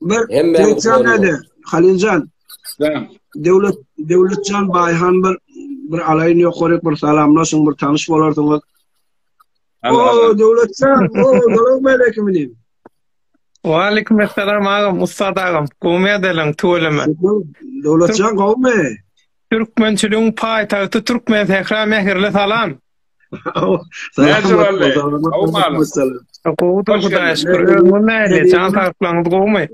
Bir Döwletjan näde? Haliljan. Döwlet Döwletjan Baýhan bir bir alaýyn ýokary bir salamlaşyň, bir tanyş bolarsyňyz. O Döwletjan, o Salam aleyküm diýip. Wa aleyküm assalam agam, ussat agam. Gowmy edeleň tüweleme. Döwletjan gowmy? Türkmençiligiň paýtagty Türkmen sähra mähirli salam. Näjemalle, gowy malyň. Gowudyr Hudaýa şükür, özüňiz nähili, jan saglyklaryňyz gowumy?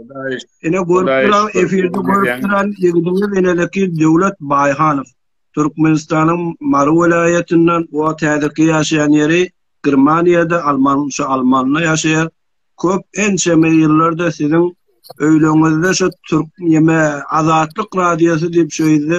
Ine görüp duran, efirde görüp duran ýigdiňiz inedeki Döwlet Baýhanow. Türkmenistanyň Mary welaýatyndan, o häzirki ýaşaýan ýeri Germaniýada, alman, şu almanda ýaşaýar. Köp ençeme ýyllardyr siziň öýleriňizde şu türk ýeme Azatlyk radiosy diýip şu ýerde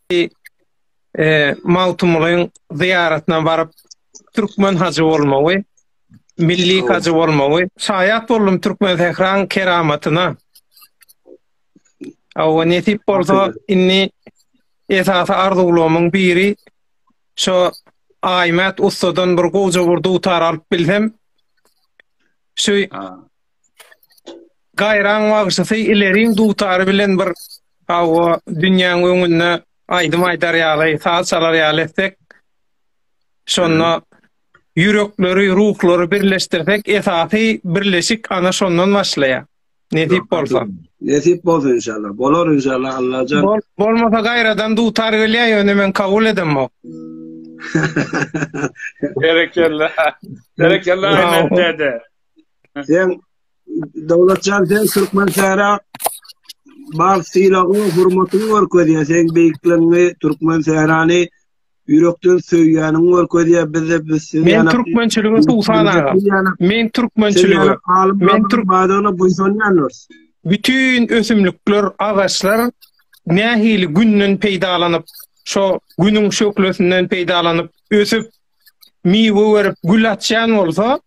Hajy Magtymgulyň zyýaratyna baryp, türkmen hajy bolmagy, milli hajy bolmagy. Şaýat boldum türkmen sähraň keramatyna. Awa nesip bolsa, indi esasy arzuwlarymyň biri şo Aýmät ussadan bir gowja bir dutar alyp bilsem, şu Gaýraň bagşysy ileriň dutary bilen bir hawa dünýäň öňünde aýdym aýdar ýaly, saz çalar ýaly etsek, şonda ýürekleri, ruhlary birleşdirsek, esasy birleşik ana şondan başlaýar. Nesip bolsa. Nesip bolsa inşallah. Bolar inşallah Allajan. Bol, bolmasa gaýradan dutar gelýär, ýöne men kabul edemok. Berekella. Berekella Ahmet dede. Sen Dawlatjan sen türkmen sära bar sylagyň, hormatyň görkezýä. Sen beýikligiňi, türkmen särany ýürekden söýýäniň görkezýä. Biz de biz sizi Men türkmençilige suw salagam. Men türkmençilige men türk badyna buýsanýandyr. Bütün ösümlikler, agaçlar nähili günden peýdalanyp, şo günüň şöhlesinden peýdalanyp, ösüp, miwe berip, gül açýan bolsa,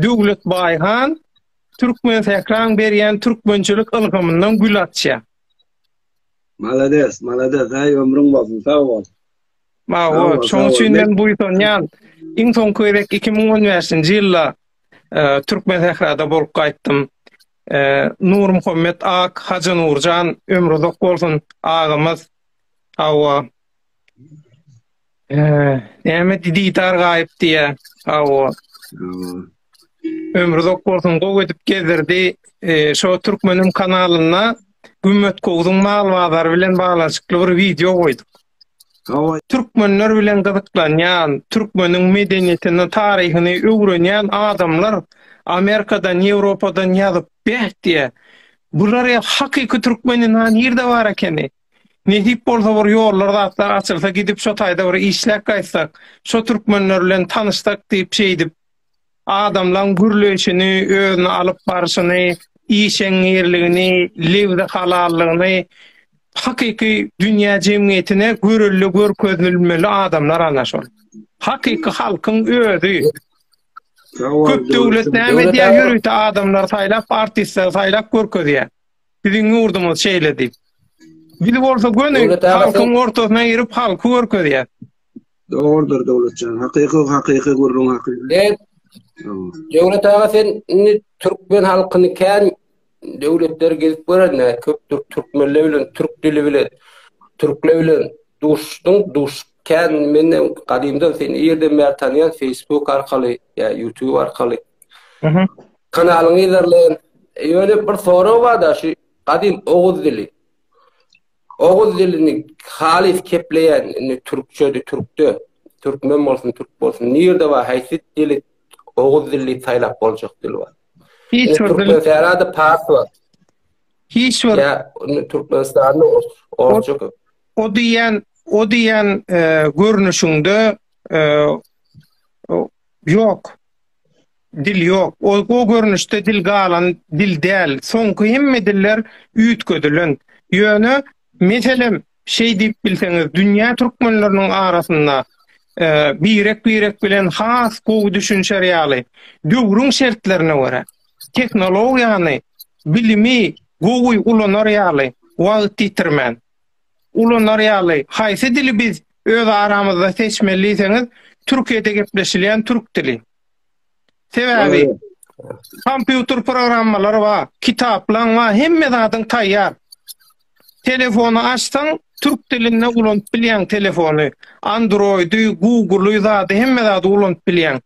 Döwlet Baýhan Türkmen Sähraň berýän türkmençilik ylhamyndan gül açýa. Malades, malades, aý ömrüň bolsun, sag bol. Mawa, şoň üçin men buýsanýan. Iň soňky gezek 2015-nji ýylda e, Türkmen Sährada bolup gaýtdym. E, Nur Muhammet Ak, Hajy Nurjan ömrü uzak bolsun agymyz. Hawa. Näme didar gaýyp diýä. Hawa. Ömri uzak bolsun, gowy edip gezdirdi. Şo türkmeniň kanalynda Gümmet Gowduň mal bazary bilen baglanyşykly bir wideo goýduk. Hawa. Türkmenler bilen gyzyklanýan, türkmeniň medeniýetini, taryhyny öwrenýän adamlar Amerikadan, Ýewropadan ýazyp, beh diýä. Bular ýa hakyky türkmen ina nirde bar ekeni? Nesip bolsa bir ýollar zatlar açylsa gidip şo taýda bir işläp gaýtsak, şo türkmenler bilen tanyşsak diýip şeýdip adamlaň gürleýşini, özüni alyp barşyny, işeňňirligini, lebzi halallygyny hakyky dünýä jemgyýetine görelde görkezilmeli adamlar ana şol. Hakyky halkyň özi. Köp döwlet näme edýär ýörite adamlary saýlap artistleri saýlap görkezýär. Siziň ýurduňyz şeýle diýip. Biz bolsa göni halkyň ortasyna girip halky görkezýär. Dogrudyr Döwletjan. Hakyky hakyky gürrüň hakyky. Döwlet aga sen indi türkmen halkyny kän döwletleri gezip görende köp türkmenler bilen türk dili bilen türkler bilen duşduň duş kän menden gadymdan seni ýerden bäri tanýan Facebook arkaly ýa YouTube arkaly Kanalyň yzarlaýan ýöne bir sorag barda şu gadym oguz dili. Oguz dilini halys kepleýän indi türkçede türkde türkmen bolsun türk bolsun nirde bar haýsy dili oguz dili saýlap boljak dil bar. Hiç bir dil. Türkmenistanda pars bar. Hiç bir. Ya Türkmenistanda orçuk. O diýen o diýen e, görnüşinde e, yok. Dil ýok. O, o görnüşde dil galan dil däl. Soňky hemme diller üýtgedilen. Ýöne, meselem, şeý diýip bilseňiz, dünýä türkmenleriniň arasynda birek-birek bilen has gowy düşünişer ýaly, döwrüň şertlerine görä, tehnologiýany, bilimi gowy ulanar ýaly, wagt ýitirmän, ulanar ýaly, haýsy dili biz öz aramyzda seçmeli diýseňiz, Türkiýede gepleşilýän türk dili. Sebäbi kompýuter programmalary bar, kitaplaň bar, hemme zadyň taýýar. Telefony açsaň, türk dilinde ulanyp bilýäň telefony. Android-i, Google-y zady, hemme zady ulanyp bilýäň.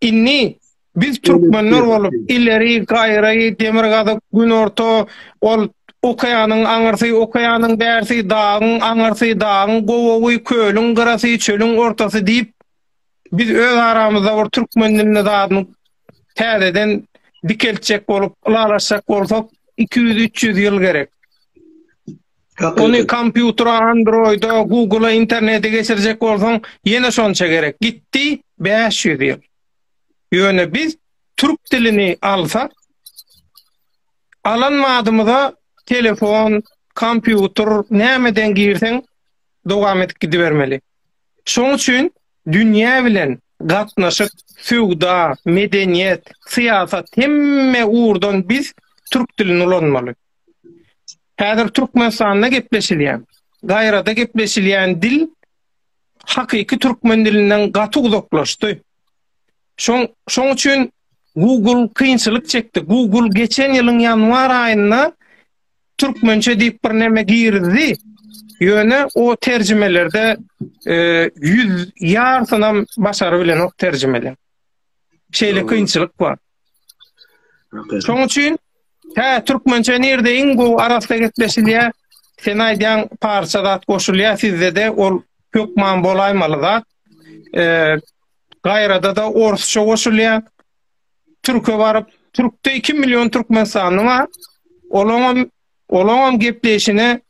Indi Biz türkmenler bolup ileri gaýry demirgazyk günorta ol okeanyň aňyrsy okeanyň bärsi dagyň aňyrsy dagyň gowagy kölüň gyrasy çölüň ortasy diýip biz öz aramyzda bir türkmen dilini zadyny täzeden dikeltjek bolup ylalaşjak bolsak 200-300 ýyl gerek. Ony kompýutra, androida, google internete geçirjek bolsaň ýene şonça gerek. Gitdi 500 ýyl. Ýöne biz türk dilini alsak, alan madymyza telefon, kompýuter nämeden girseň dowam edip gidibermeli. Şoň üçin dünýä bilen gatnaşyk, söwda, medeniýet, syýasat hemme ugurdan biz türk dilini ulanmaly. Häzir Türkmenistanda gepleşilýän, dairada gepleşilýän dil hakyky türkmen dilinden gaty uzaklaşdy. Şoň şoň üçin Google kynçylyk çekdi. Google geçen ýylyň ýanwar aýynda türkmençe diýip bir näme girdi. Ýöne o terjimelerde e, ýüz ýartynam başary bilenok terjimeli. Şeýle kynçylyk bar. Şoň üçin hä türkmençe nirde iň gowy arassa gepleşilýär. Sen aýdýan parça zat goşulýar sizde-de ol hökman bolaýmaly zat. Eee gaýrada da orsça goşulýar. Türke baryp, türkde 2 million türkmenistanly bar. Olaňam olaňam gepleşine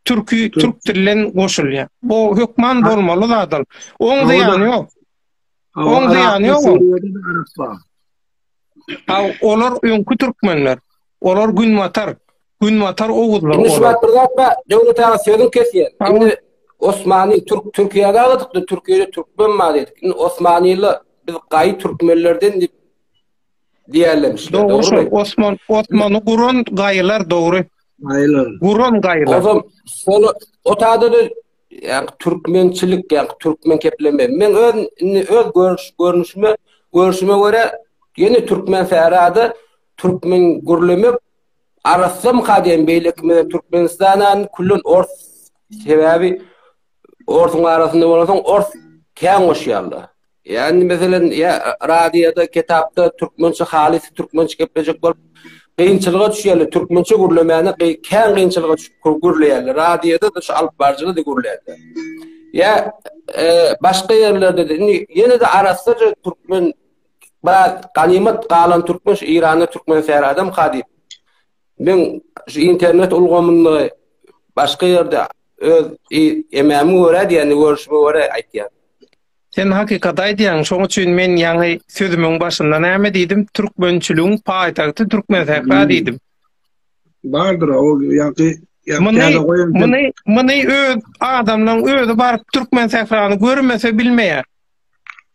türki türk dillen goşulýar. Bu hökman bolmaly zat ol. Oň ýok. Oň zyýany ýok ol. Haw, olar öňki türkmenler. Olar günbatar. Günbatar oguzlar olar. Indi şuwagt bir zat bar. Döwlet aga sözüňi kesýän. Indi Osmany Türk Türkiýäde aladykda Türkiýede türkmen bar diýdik. Indi Osmanylar biz gaýy türkmenlerden diýip diýerlemişler. Dogry şol. Osman Osmany guran gaýylar dogry. Gaýylar. Guran gaýylar. Ozal şol otada da Ýa türkmençilik ýa türkmen kepleme. Men öz indi öz görüş görnüşime görüşime göre ýene türkmen särada türkmen gürlemek arasam kadem beýleki men Türkmenistandan küllen ors sebäbi orsuň arasynda bolansoň ors kän goşýarlar. Ýa indi meselem ýa radioda, kitapda türkmençe halys türkmençe geplejek bolup gynçylyga düşýärler. Türkmençe gürlemäne kän gynçylyga düşüp gürleýärler. Radioda-da şu alyp baryjyda-da gürleýärler. Ýa e, başga ýerlerde-de indi ýene-de arassaja türkmen biraz ganymat galan türkmen şu Eýranda türkmen säri adam ka diýip. Men şu internet ulgamynda başga ýerde öz emämi görä diýende görüşme görä aýtýar. Sen hakykaty aýdýaň, şoň üçin men ýaňy sözümiň başynda näme diýdim, türkmençiligiň paýtagty Türkmensähra diýdim. Bardyr o ýaňky Muny, muny, muny öz adamlaryň özi baryp Türkmensährany görmese bilmeýär.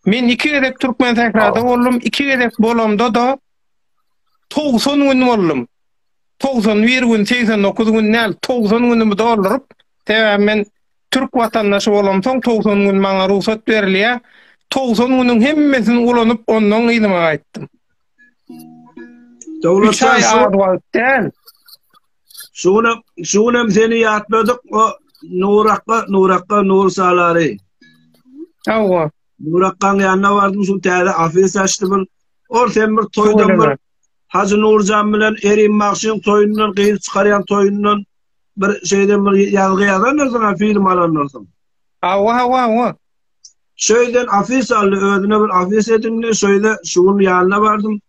Men iki gezek Türkmensährada boldum, iki gezek bolamda-da 90 gün boldum. 91 gün, 89 gün näl, 90 günümi dolduryp, sebäbi men Türk watandaşy bolamsoň togsan gün maňa rugsat berilýä, togsan günüň hemmesini ulanyp ondan yzyma gaýtdym. Üç aý az wagt däl. Şu gün şu gün hem seni ýatladyk o Nurakga Nurakga Nur Salary. Hawa. Nurakgaň ýanyna bardym şu täze ofis açdy bir. Ol sen bir toýdan bir Hajy Nurjan bilen Erim Magşyň toýundan gyz çykarýan toýundan bir şeýle bir ýazgy ýazandyrsyn, film alandyrsyn. Hawa, hawa, hawa. Şeýden afis aldy, özüne bir afis edindi, şeýle şu gün ýanyna bardym.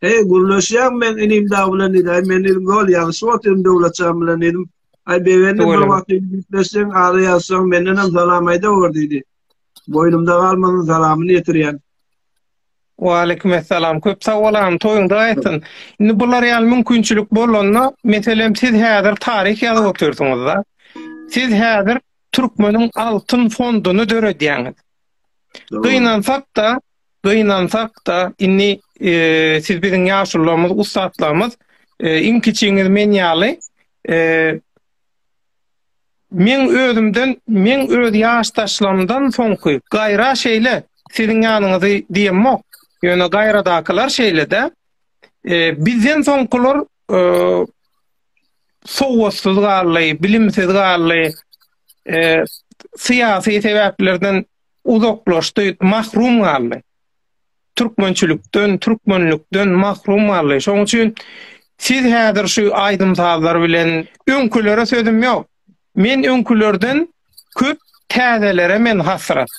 Hey, gürleşýäň men inim dag bilen diýdi. Aý, men dedim, gol ýagyşyp otyryn Döwletjan bilen diýdim. Aý, begendim, bir wagt gürleşseň, ara ýazsaň, menden hem salam aýda gör diýdi. Boýnumda galmasyn, salamyny ýetirýän. Waleýkimessalam. Köp sag bol agam, toýuň dagy aýtsyn. Indi bular ýaly mümkinçilik bolanda, meselem siz häzir taryh ýazyp otyrsyňyz-da. Siz häzir türkmeniň altyn fonduny döredýäňiz. Gynansak-da, gynansak-da, indi siz biziň ýaşulularymyz, ussatlarymyz, iň kiçiňiz men ýaly, Meň özümden, meň öz ýaşdaşlarymdan soňky gaýra şeýle, siziň ýanyňyzy diýemok, ýöne gaýradakylar şeýle-dä. Bizden soňkular sowatsyz galdy, bilimsiz galdy, syýasy sebäplerden uzaklaşdy, mahrum galdy. türkmençilikden, türkmenlikden mahrum galdy. Şoň üçin siz häzir şu aýdym-sazlar bilen öňkülere sözüm ýok. Men öňkülerden köp täzelere men hasrat.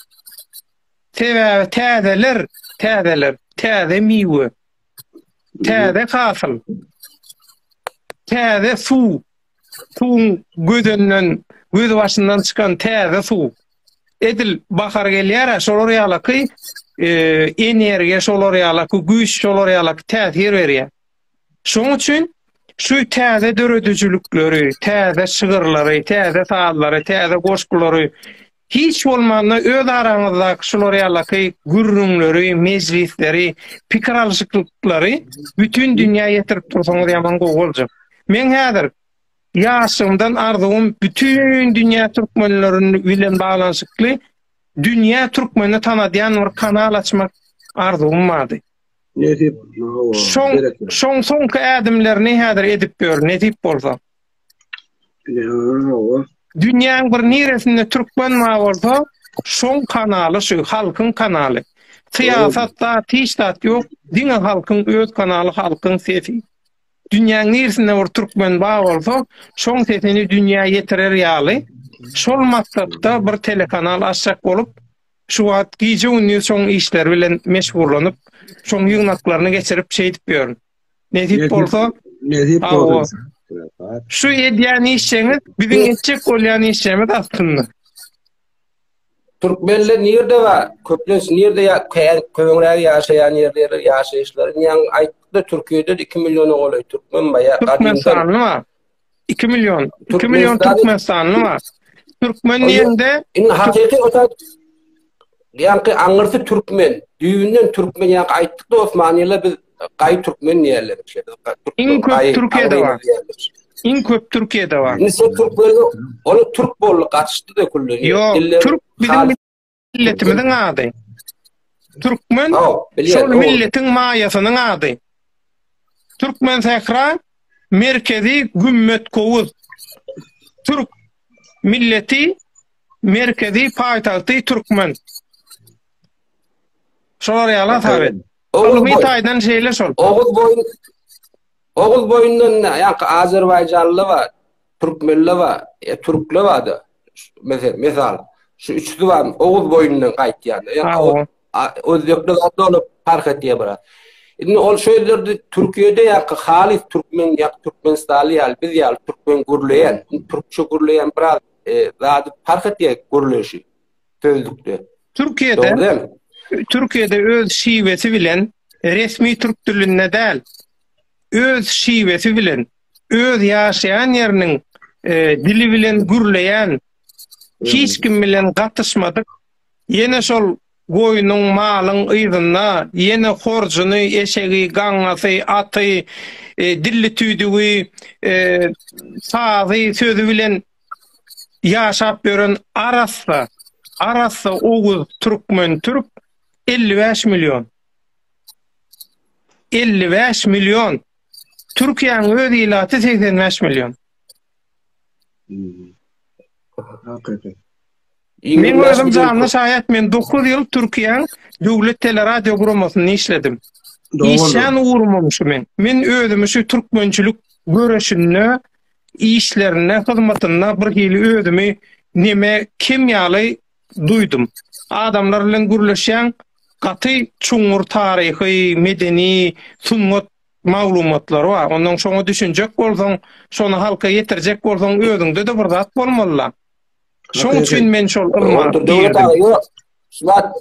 Sebäbi täzeler, täzeler, täze miwe, täze hasyl, täze suw. suwuň gözünden, gözbaşyndan çykan täze suw. Edil bahar gelýär-ä, şolar ýalaky e, energiýa, şolar ýalaky güýç, şolar ýalaky täsir berýär. Şoň üçin şu täze döredijilikleri, täze şygyrlary, täze sazlary, täze goşgulary Hiç bolmanda öz araňyzdaky şular ýalaky gürrüňleri, mejlisleri, pikir alyşyklyklary bütin dünýä ýetirip dursaňyz ýaman gowy boljak. Meň häzir ýaşlygymdan arzuwym bütin dünýä türkmenlerin bilen baglanyşykly dünýä türkmeni tanadýan bir kanal açmak arzuwym bardy. Nesip bolsa. Şoň soňky ädimlerini häzir edip ýör, nesip bolsa. Dünýäň bir niresinde türkmen bar bolsa, şoň kanaly şu, halkyň kanaly. Syýasat zat, hiç zat ýok, diňe halkyň öz kanaly, halkyň sesi. Dünýäň niresinde bir türkmen bar bolsa, şoň sesini dünýä ýetirer ýaly, şol maksatda bir telekanal açjak bolup, şu wagt gije-gündiz şoň işleri bilen meşgullanyp, şoň ýygnaklaryny geçirip şeýdip ýörün. Nesip bolsa, nesip bolsa. Şu edýän işeňiz biziň etjek bolýan işemiz aslynda. Türkmenler nirde bar? Köplenç nirde ya köňräk ýaşaýan ýerleri, ýaşaýyşlary? Ýa aýtdyk-da Türkiýede 2 milliona golaý türkmen bar. Türkmenistanyň bar. 2 million, 2 million Türkmenistanly bar. Türkmen diýende indi hakyky osa ýanky aňyrsy türkmen, düýbünden türkmen ýanky aýtdyk Osmanlylar biz gaý türkmen diýerler işte. Iň köp Türkiýede bar. Iň köp Türkiýede bar. Indi sen türkmen, ol türk boldy, gaçyşdy da külli. Ýok, türk biziň milletimiziň ady. Türkmen şol milletiň maýasynyň ady. Türkmen sähra merkezi gümmet kowuz. Türk milleti merkezi paýtagty türkmen. Şolar ýaly taýdan. Ylmy taýdan şeýle şol. Oguz boýun Oguz boýundan ýa-da Azerbaýjanly bar. Türkmenleba, e, türkleba-da, mesal, şu üç zyban oguz boýundan gaýtýan. Ýa-da özbekler zat olup parh etýär bura. Indi ol şeýlerde Türkiýede ýa-da halys türkmen ýa-da türkmenistanly ýaly biz ýaly türkmen gürleýän, türkçe gürleýän biraz e, zady parh etýär gürleýşi sözlükde. Türkiýede Türkiýede öz şiwesi bilen resmi türk dilinde däl. Öz şiwesi bilen öz ýaşaýan ýeriniň dili bilen gürleýän, hiç kim bilen gatyşmadyk, ýene şol goýnuň, malyň yzynda, ýene horjuny, eşegi, gaňňasy, aty, dilli tüýdügi, sazy, sözi bilen ýaşap ýören arassa, arassa oguz türkmen, türk elli bäş million. Elli bäş million! Türkiýäň öz ilaty segsen bäş million. Men özüm janly şaýat, men dokuz ýyl Türkiýäň döwlet teleradio guramasynda işledim. Işlän ugrumam şu men. Men özümi şu türkmençilik göreşinde, işlerinde, hyzmatynda birhili özümi neme, kim ýaly duýdum. Adamlar bilen gürleşýäň, gaty çuňňur taryhy, medeni, sungat maglumatlary bar. Ondan şoňa düşünjek bolsaň, şony halka ýetirjek bolsaň, özüňde-de bir zat bolmaly-la. Şoň üçin men şol ylma girdim. Zat,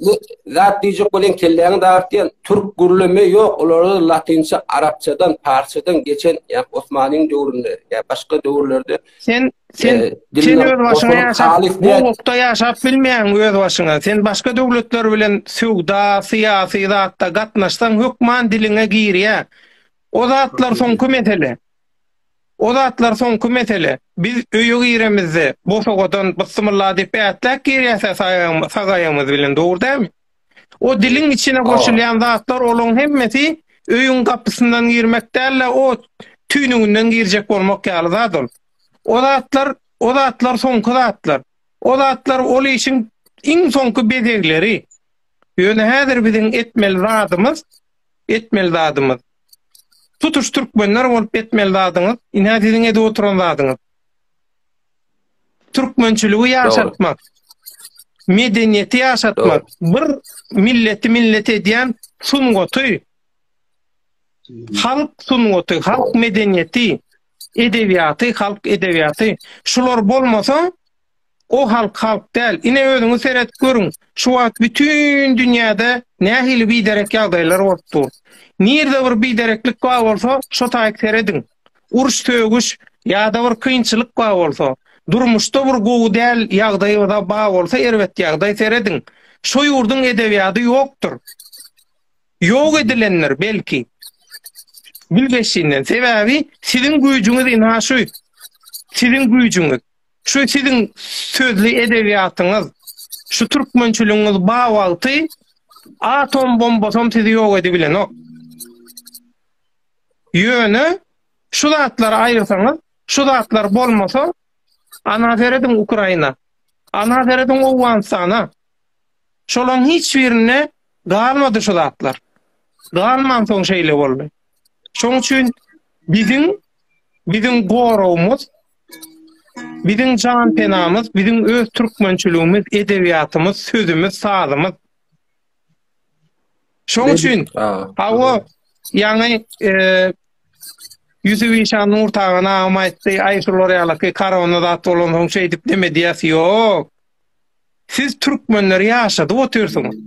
zat diýjek bolan kelläňi dartýan türk gürleme ýok, olarda latynça, arapçadan, parsçadan geçen, ýa Osmanyň döwründe, ýa başga döwürlerde Sen sen e, sen öz başyňa ýaşap, gowlukda ýaşap bilmeýäň öz başyňa. Sen başga döwletler bilen söwda, syýasy zatda gatnaşsaň hökman diliňe girýär. O zatlar soňky mesele. O zatlar soňky mesele. Biz öýe giremizde, bosagodan bysmylla diýip ätläp girýäs sagaýamyz bilen, dogry dälmi? O diliň içine goşulýan zatlar olaň hemmesi öýüň gapysyndan girmek däl-de o tüýnüginden girjek bolmak ýaly zat ol. O zatlar o zatlar soňky zatlar. O zatlar ol işiň iň soňky bezegleri. Ýöne häzir biziň etmeli zadymyz etmeli zadymyz. Tutuş türkmenler bolup etmeli zadyňyz ine siziň edip oturan zadyňyz. Türkmençiligi ýaşatmak, medeniýeti ýaşatmak, bir milleti millet edýän sungaty, halk sungaty, halk medeniýeti, edebiýaty, halk edebiýaty. Şular bolmasa, o halk halk däl. Ine özüňiz seret görüň, şu wagt bütün dünýäde nähili biderek ýagdaýlar bolup dur. Nirde bir bidereklik bar bolsa, şo taýyk serediň. uruş sögüş yada bir kynçylyk bar bolsa durmuşda bir gowy däl yagdaý bar bolsa erbet yagdaý serediň şo yurduň edebiýady yokdur yok edilendir belki bilgeşinden sebabi siziň güýjüňiz ynha şu siziň güýjüňiz şu siziň sözli edebiýatyňyz şu türkmençiligiňiz bar wagty atom bombasam sizi yok edibilenok. Ýöne şu zatlary aýyrsaňyz, şu zatlar bolmasa, ana serediň Ukraina, ana serediň Owganystana. Şolaň hiç birinde galmady şu zatlar. Galmansoň şeýle boldy. Şoň üçin biziň biziň goragymyz, biziň janpenamyz, biziň öz türkmençiligimiz, edebiýatymyz, sözümiz, sazymyz. Şoň üçin hawa ýaňy ýüzi işan Nurtagan agam aýtdy, aý şular ýalaky korona zat bolansoň şeýdip näme diýýäs ýok. Siz türkmenleri ýaşadyp otyrsyňyz.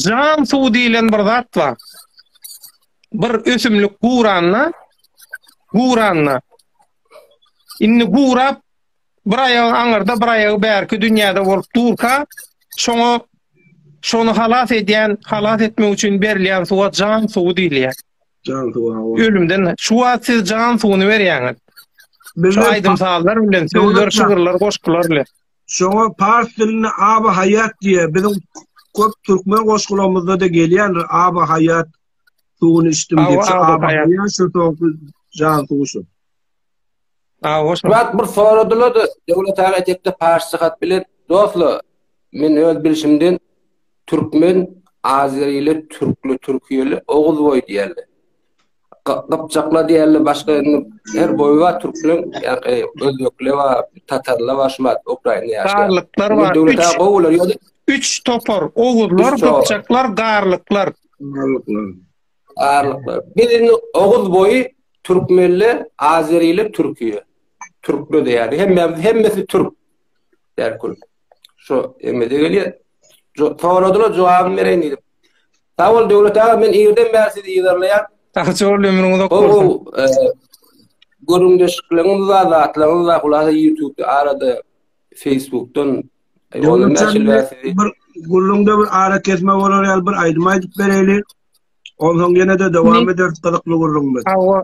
Jan suw diýlen bir zat bar. Bir ösümlik guranda, guranda. Indi gurap bir aýagy aňyrda, bir aýagy bärki dünýäde bolup durka, şoňa şony halas edýän, halas etmek üçin berilýän suwa jan suwy diýilýär. Jan suwy hawa. Ölümden şu wagt siz jan suwuny berýäňiz. Biz aýdym sazlar bilen, sözler, şygyrlar, goşgular bilen. Şoňa pars dilinde aba haýat diýýär. Biziň köp türkmen goşgularymyzda da gelýändir aba haýat suwuny içdim diýip. Aba haýat şu jan suwy şu. Murat bir soradylar-da, Döwlet aga etekde parsça hat bilen, Dostlar, men öz bilşimden türkmen, azeriler, türkler, türkiýeler, oguzboý diýerler. Gypjaklar diýerler, başga indi her boýy bar türkleriň, ýa-da özbekler bar, tatarlar bar, şu wagt Ukrainada ýaşaýan. Garlyklar bar. Döwlet aga gowy bolar ýa-da. Üç topar, oguzlar, gypjaklar, garlyklar. Arlyklar. Biz indi Oguz boýy türkmenler, azeriler, türkiýe. Türkler diýýär. Hemmämiz hemmesi türk. Därkül. Şu emmede gelýär. Soradylar jogabyny bereýin diýdim. Sag bol Döwlet aga, men irden bäri sizi ýerleýän. Sag bol, ömrüň uzak bolsun. E, Göründeşlikleriniz we zatlaryňyz we hulasa YouTube-da arada Facebook-dan e, Döwlet aga, bir gürrüňde bir ara kesme bolar ýaly bir aýdym aýdyp bereýin. Onsoň ýene-de dowam ederis gyzykly gürrüňimizi. Hawa.